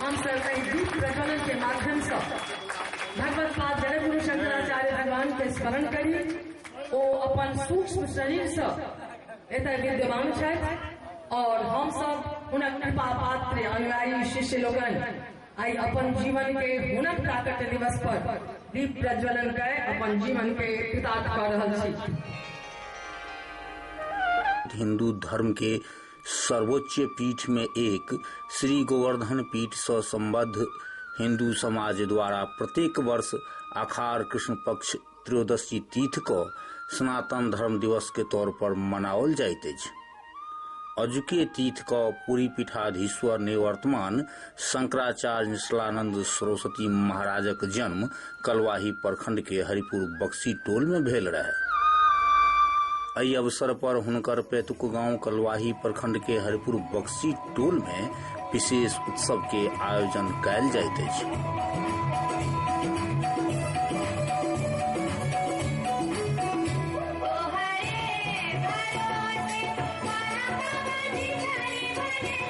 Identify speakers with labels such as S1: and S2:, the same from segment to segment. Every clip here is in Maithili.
S1: हम सब कई गीत प्रज्वलन के माध्यम से भगवत पाद जगत गुरु शंकराचार्य भगवान के स्मरण करी ओ अपन सूक्ष्म शरीर से एतय विद्यमान छथि और हम सब हुनक कृपा पात्र अनुयायी शिष्य लोगन आई अपन जीवन के हुनक प्राकट्य दिवस पर दीप प्रज्वलन कर अपन जीवन के कृतार्थ कर रहल छी हिंदू धर्म के सर्वोच्च पीठ में एक श्री गोवर्धन पीठ से संबद्ध हिंदू समाज द्वारा प्रत्येक वर्ष अखार कृष्ण पक्ष त्रयोदशी तीथ को सनातन धर्म दिवस के तौर पर मनाओल जाइत अछि अजुके तीथ को पूरी पीठाधीश्वर निवर्तमान शंकराचार्य निश्चलानंद सरस्वती महाराजक जन्म कलवाही प्रखंड के हरिपुर बक्सी टोल में भेल रहे एहि अवसर पर हुनकर पैतुक गांव कलवाही प्रखंड के हरिपुर बक्सी टोल में विशेष उत्सव के आयोजन कयल जाइत अछि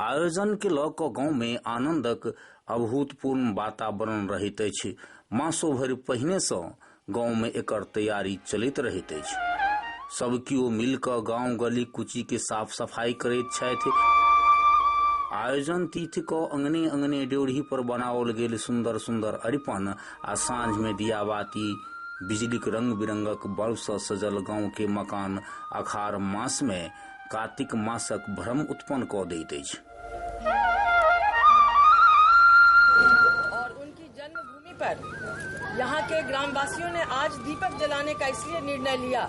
S1: आयोजन के लऽ कऽ गांव मे आनंदक अभूतपूर्ण वातावरण रहैत अछि मासो भरि पहिने सँ गांव मे एकर तैयारी चलैत रहैत अछि सब कियो मिल कऽ गांव गली कुची के साफ सफाई करैत छथि आयोजन तिथि कऽ अंगने अंगने ड्योढ़ी पर बनाओल गेल सुंदर सुंदर अरिपन आ साँझ में दिया बाती बिजलीक रंग बिरंगक बल्ब सँ सजल गाँव के मकान अखार मास में कातिक मासक भ्रम उत्पन्न कऽ दैत अछि और उनकी जन्मभूमि पर यहाँ के ग्रामवासियों ने आज दीपक जलाने का इसलिए निर्णय लिया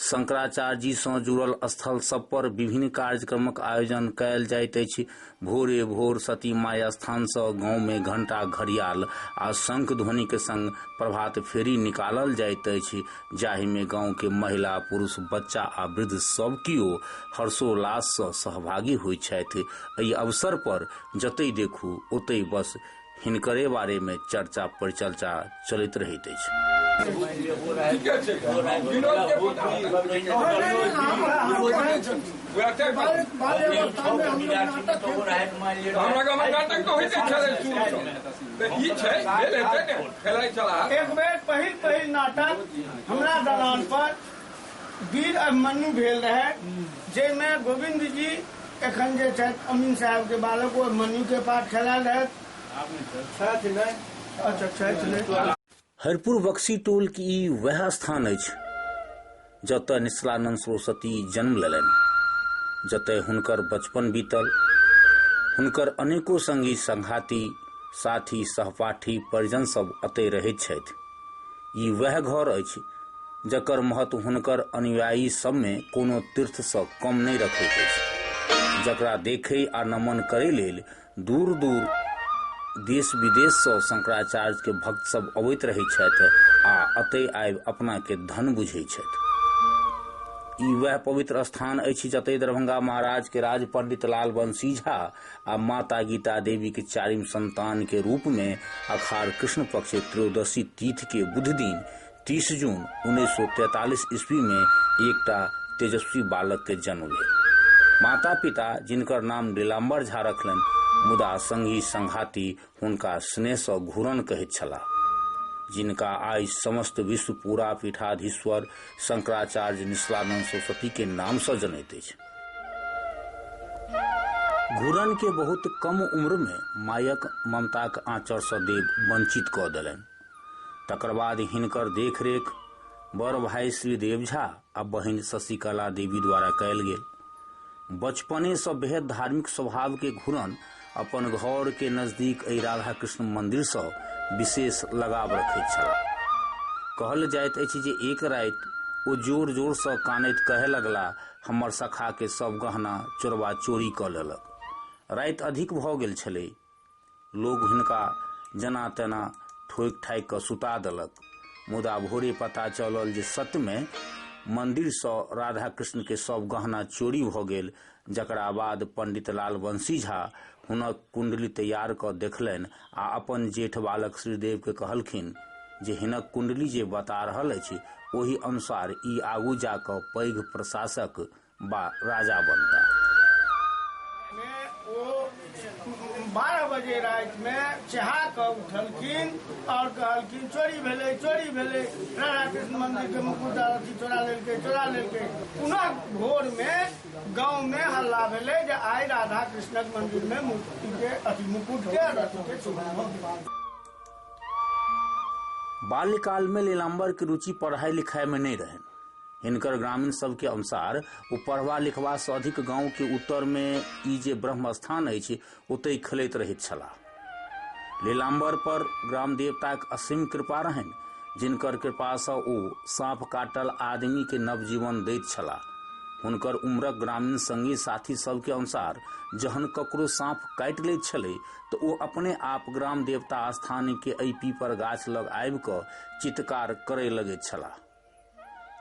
S1: शंकराचार्य जी सँ जुड़ल स्थल सब पर विभिन्न कार्यक्रमक आयोजन कयल जाइत अछि भोरे भोर सती माय स्थान सँ गांव में घंटा घड़ियाल आ शंख ध्वनि के संग प्रभात फेरी निकालल जाइत अछि जाहि में गांव के महिला पुरुष बच्चा आ वृद्ध सब कियो हर्षोल्लास सँ सहभागी होइत छथि एहि अवसर पर जतै देखू ओतै बस हिनकरे बारे में चर्चा परिचर्चा चलैत रहैत अछि एक बेर पहिल पहिल नाटक हमरा दलान पर वीर अभिमन्यु भेल रहै जाहिमे गोविन्द जी एखन जे छथि अमीन साहब के बालक ओ अभिमन्यु के पाठ खेलायल रहथि अच्छा छथि नहि हरिपुर बक्सी टोल के ई वएह स्थान अछि जतय निश्चलानंद सरस्वती जन्म लेलनि जतय हुनकर बचपन बीतल हुनकर अनेको संगी संघाती साथी सहपाठी परिजन सब अतय रहैत छथि ई वएह घर अछि जकर महत्व हुनकर अनुयायी सबमे कोनो तीर्थसँ कम नहि रखैत अछि जकरा देखै आ नमन करै लेल दूर दूर देश विदेशसँ शंकराचार्यके भक्त सब अबैत रहै छथि आ अतै आबि अपनाके धन बुझै छथि ई वएह पवित्र स्थान अछि जतय दरभंगा महाराजके राज पंडित लाल बंसी झा आ माता गीता देवी के चारिम संतान के रूप में अखार कृष्ण पक्ष त्रयोदशी तीर्थ के बुध दिन 30 जून 1943 ईस्वी में एक तेजस्वी बालक के जन्म भेल माता पिता जिनकर नाम नीलाम्बर झा रखलन मुदा संगी संघाती हुनका स्नेहसँ घूरन कहैत छलाह जिनका आइ समस्त विश्व पूरा पीठाधीश्वर शंकराचार्य निश्लानंद सरस्वती के नाम से जनैत अछि घूरन के बहुत कम उम्र में मायक ममताक आंचर से देव वंचित कऽ देलनि तकर बाद हिनकर देखरेख बड़ भाई श्री देव झा आ बहिन शशिकला देवी द्वारा कयल गेल बचपनेसँ बेहद धार्मिक स्वभावके घुरन अपन घरके नजदीक एहि राधा कृष्ण मन्दिरसँ विशेष लगाव रखैत छलाह कहल जाइत अछि जे एक राति ओ जोर जोरसँ कानैत कहय लगला हमर सखाके सभ गहना चोरबा चोरी कऽ लेलक राति अधिक भऽ गेल छलै लोक हुनका जेना तेना ठोकि ठाकि कऽ सुता देलक मुदा भोरे पता चलल जे सत्यमे मन्दिरसँ राधा कृष्णके सभ गहना चोरी भऽ गेल जकरा बाद पंडित लाल वंशी झा हुनक कुंडली तैयार कऽ देखलनि आ अपन जेठ बालक श्रीदेवके कहलखिन जे हिनक कुंडली जे बता रहल अछि ओहि अनुसार ई आगू जाकऽ पैघ प्रशासक बा राजा बनता में ओ बारह बजे राति में चहा कऽ उठलखिन और कहलखिन चोरी भेलै चोरी भेलै राधा कृष्ण मंदिर के मुकुट अथी चोरा लेलकै चोरा लेलकै पुनः भोर में गांव में हल्ला भेलै जे आइ राधा कृष्णक मंदिर में मूर्ति के अथी मुकुट के और अथी के चोरी भऽ गेलै। बाल्यकाल में लीलाम्बर के रुचि पढ़ाई लिखाई में नहीं रहे हिनकर ग्रामीण सबके अनुसार ओ पढ़बा लिखबासँ अधिक गाँवके उत्तरमे ई जे ब्रह्म स्थान अछि ओतहि खेलैत रहैत छलाह लीलाम्बर पर ग्राम देवताक असीम कृपा रहनि जिनकर कृपासँ ओ साँप काटल आदमीके नवजीवन दैत छलाह हुनकर उम्रक ग्रामीण संगी साथी सबके अनुसार जहन ककरो साँप काटि लैत छलै तऽ ओ अपने आप ग्राम देवता स्थानके एहि पीपर गाछ लग आबि कऽ चित्कार करय लगैत छलाह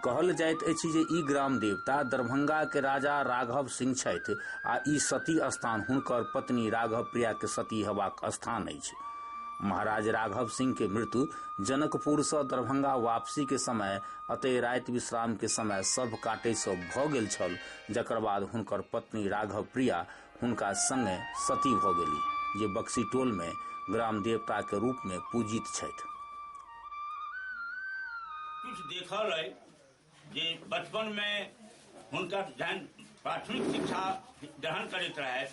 S1: कहल जाइत अछि जे ई ग्राम देवता दरभंगा के राजा राघव सिंह छथि आ ई सती स्थान हुनकर पत्नी राघव प्रिया के सती हेबाक स्थान अछि महाराज राघव सिंह के मृत्यु जनकपुर से दरभंगा वापसी के समय अतय राति विश्राम के समय सब काटे से भ गेल छल जकर बाद हुनकर पत्नी राघव प्रिया हुनका संगे सती भऽ गेली जे बक्सी टोल में ग्राम देवता के रूप में पूजित छथि कुछ देखल है जे बचपन में हुनका जहन प्राथमिक शिक्षा ग्रहण करैत रहे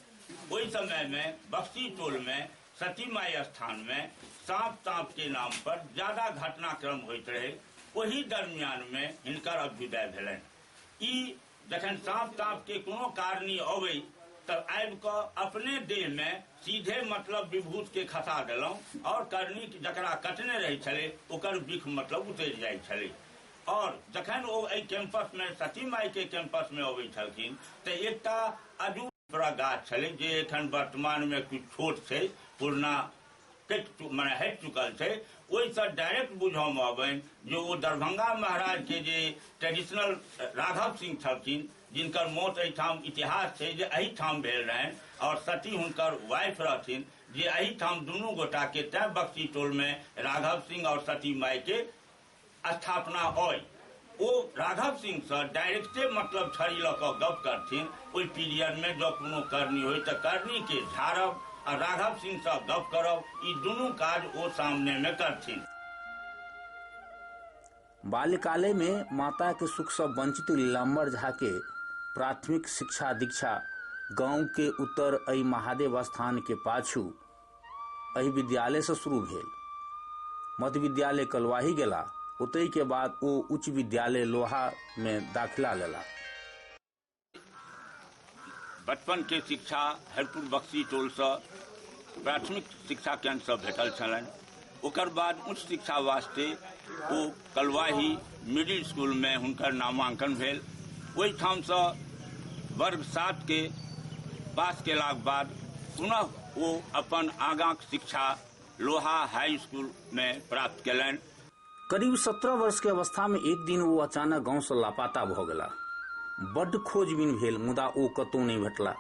S1: ओहि समय में बक्सी टोल में सती माई स्थान में सांप ताप के नाम पर ज्यादा घटनाक्रम होइत रहे ओहि दरमियान में हिनकर अभ्युदय भेलनि ई जखन साँप ताँप के कोनो कारणी अबै त आबि क अपने देह मे सीधे मतलब विभूत के खसा देलहुँ और करणी जकरा कटने रहै छलै ओकर विख मतलब उतरि जाइ छलै और जखन ओ एहि कैंपस मे सती माई के कैंपस मे अबै छलखिन त एकटा अजू गाछ छलै जे एखन वर्तमान मे किछु छोट छै पुरना कटि चु- मने हटि चुकल छै ओहिसँ डायरेक्ट बुझयमे अबनि जे ओ दरभंगा महाराजके जे ट्रेडिशनल राघव सिंह छलखिन जिनकर मौत एहिठाम इतिहास छै जे एहिठाम भेल रहनि आओर सती हुनकर वाइफ रहथिन जे एहिठाम दुनू गोटाके तैँ बक्सी टोलमे राघव सिंह आओर सती मायके स्थापना अइ ओ राघव सिंह से डायरेक्टे मतलब छड़ी लऽ कऽ गप करथिन ओहि पीरियड में जब कोनो करनी होय तऽ करनी के झाड़ब आ राघव सिंह से गप करब ई दुनू काज ओ सामने में करथिन बाल्यकाले में माता के सुख से वंचित लीलाम्बर झा के प्राथमिक शिक्षा दीक्षा गांव के उत्तर अई महादेव स्थान के पाछू एहि विद्यालयसँ शुरू भेल मध्य विद्यालय कलवाही गेला ओतहि के बाद ओ उच्च विद्यालय लोहा मे दाखिला लेला बचपन के शिक्षा हरिपुर बक्सी टोलसँ प्राथमिक शिक्षा केन्द्रसँ भेटल छलनि ओकर बाद उच्च शिक्षा वास्ते ओ कलवाही मिडिल स्कूलमे हुनकर नामांकन भेल ओहिठामसँ वर्ग सातके पास केलाक बाद पुनः ओ अपन आगाँक शिक्षा लोहा हाई स्कूलमे प्राप्त केलनि करीब सत्रह वर्ष के अवस्था में एक दिन वो अचानक गांव से लापता भ गेला बड्ड खोजबीन भेल मुदा ओ कतौ नहि भेटला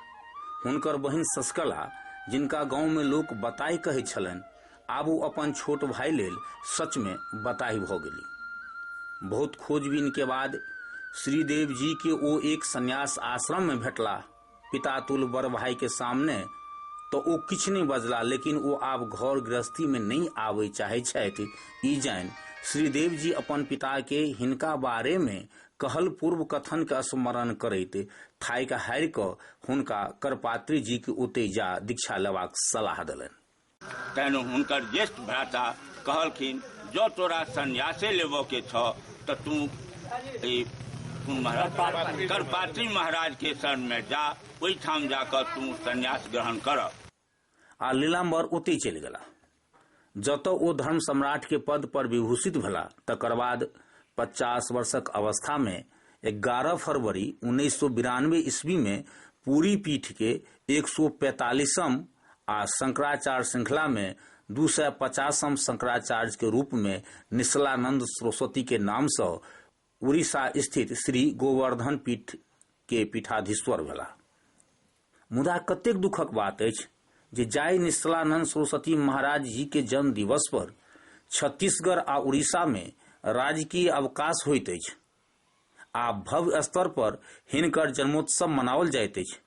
S1: हुनकर बहिन ससकला जिनका गांव में लोक बताय कहै छलनि आब ओ अपन छोट भाई लेल सच में बताही भ गेली बहुत खोजबीन के बाद श्रीदेव जी के ओ एक संन्यास आश्रम में भेटला पिता तुल बड़ भाई के सामने तो ओ किछु नहीं बजला लेकिन ओ आब घर गृहस्थी में नहीं आवे चाहे छथि ई जान श्रीदेव जी अपन पिता के हिनका बारे में कहल पूर्व कथन के स्मरण करैत थाइक हारि क हुनका करपात्री जी के ओते जा दीक्षा लेबाक सलाह देलनि तहन हुनकर ज्येष्ठ भ्राता कहलखिन जँ तोरा संन्यासे लेबऽ के छऽ तऽ तू ई कोन महाराज करपात्री महाराज के शरण में जा ओहिठाम जाकर तू संन्यास ग्रहण करऽ आ लीलाम्बर ओतहि चलि गेलाह जतऽ ओ धर्म सम्राट के पद पर विभूषित भेला तकर बाद पचास वर्षक अवस्था में एगारह फरवरी उन्नैस सौ बिरानवे ईस्वी में पूरी पीठ के एक सौ पैंतालीसम आ शंकराचार्य श्रृंखला में दू सय पचासम शंकराचार्य के रूप में निश्चलानंद सरस्वती के नाम से उड़ीसा स्थित श्री गोवर्धन पीठ के पीठाधीश्वर भेला मुदा कतेक दुखक बात अछि जे जाय निश्चलानंद सरस्वती महाराज जी के जन्म दिवस पर छत्तीसगढ़ आ उड़ीसा में राजकीय अवकाश होइत अछि आ भव्य स्तर पर हिनकर जन्मोत्सव मनाओल जाइत अछि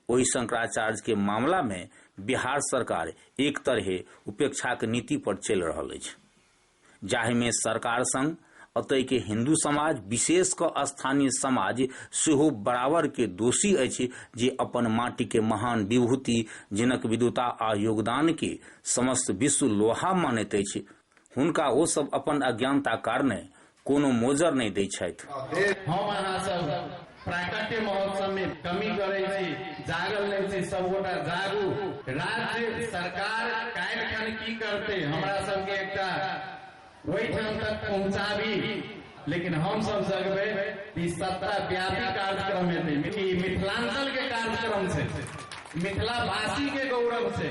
S1: ओहि शंकराचार्य के मामला में बिहार सरकार एक तरहे उपेक्षाक नीति पर चलि रहल अछि जाहि में सरकार संग अतय के हिंदू समाज विशेष क स्थानीय समाज सेहो बराबर के दोषी अछि जे अपन माटी के महान विभूति जिनक विद्वता आ योगदान के समस्त विश्व लोहा मानैत अछि हुनका ओ सब अपन अज्ञानता कारणे कोनो मोजर नहि दै छथि। हम अहाँ सब प्राकट्य महोत्सव मे कमी करै छी, जागल नहि छी, सब गोटा जागु। राज्य सरकार काल्हि खन की करतै, हमरा सब के एकटा ओहिठाम तक पहुँचाबी, लेकिन हम सब जगबै त ई सत्ता व्यापी कार्यक्रम हेतै। ई मिथिलांचल के कार्यक्रम छै, मिथिलावासी के गौरव छै।